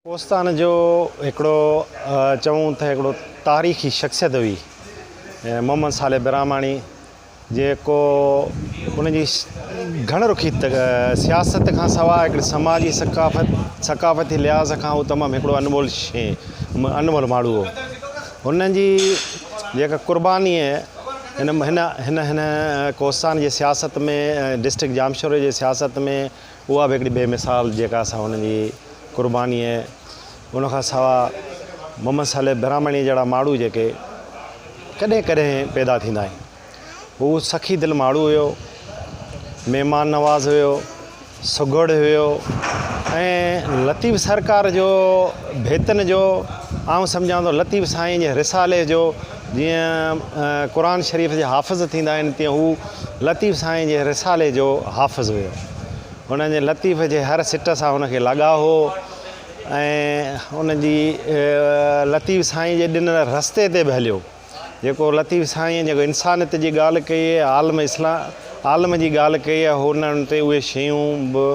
ڪوستان جو هڪڙو چئون ته هڪڙو تاريخي شخصيت هئي محمد صالح براهماڻي جيڪو ان جي گهڻ رخي سياست کان سواء هڪڙي سماجي ثقافت ثقافتي لحاظ کان هو تمام هڪڙو انمول شي انمول ماڻهو هو هن جي جيڪا قرباني هن هن هن هن ڪوستان جي سياست ۾ ڊسٽرڪٽ ڄامشوري جي سياست ۾ اها به هڪڙي بي مثال جيڪا اسان هن جي قرباني ۽ ان کان سوا محمد صالح براهمڻي جهڙا ماڻهو جيڪي ڪڏهن ڪڏهن پيدا ٿيندا آهن هو سخي دل ماڻهو هيو مهمان نواز هيو سگهڙ هيو ۽ لطيف سرڪار جو ڀيتن جو آئون سمجهان ٿو لطيف سائين جي رسالي جو جيئن قرآن شريف جا حافظ ٿيندا آهن تيئن هو لطيف سائين جي رسالي جو حافظ هيو. هن جي لطيف جي هر سٽ سان هن کي لڳاء هو ۽ هن جي لطيف سائين جي ڏنل رستي تي به هليو جيڪو لطيف سائين جيڪو انسانيت جي ڳالهه ڪئي عالم اسلام عالم جي ڳالهه ڪئي هي هن تي اهي شيون به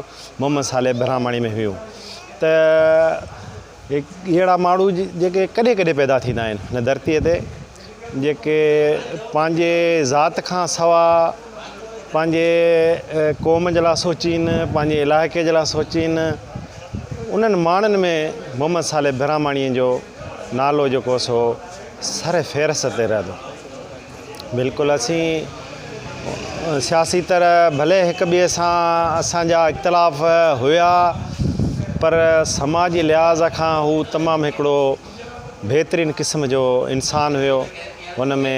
محمد صالح براهماڻي ۾ هيون ته هي اهڙا ماڻهو جيڪي ڪڏهن ڪڏهن پيدا ٿيندا آهن هن ڌرتيء تي جيڪي پنهنجي ذات کان سوا پنهنجي قوم جي لاء سوچين پنهنجي علائقي جي لاء سوچين انهن ماڻهن ۾ محمد صالح براهماڻيء جو نالو جيڪو سو سر فهرست تي رهندو بلڪل اسين سياسي طرح ڀلي هڪ ٻئي سان اسان جا اختلاف هيا پر سماجي لحاظ کان هو تمام هڪڙو بهترين قسم جو انسان هيو هن ۾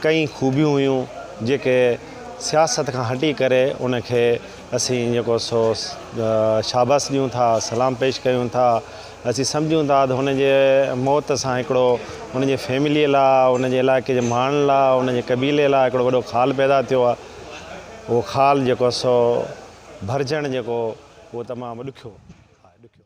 ڪئي خوبيون هيون جيڪي سياست کان هٽي ڪري ان کي اسين جيڪو سو شاباس ڏيون ٿا سلام پيش ڪيون ٿا اسين سمجهون ٿا ته هن جي موت سان هڪڙو هن جي فيمليء لاء، هن جي علائقي جي ماڻهن لاء، هن جي قبيلي لاء هڪڙو وڏو خال پيدا ٿيو آهي. اهو خال جيڪو سو ڀرجڻ جيڪو اهو تمام ڏکيو آهي.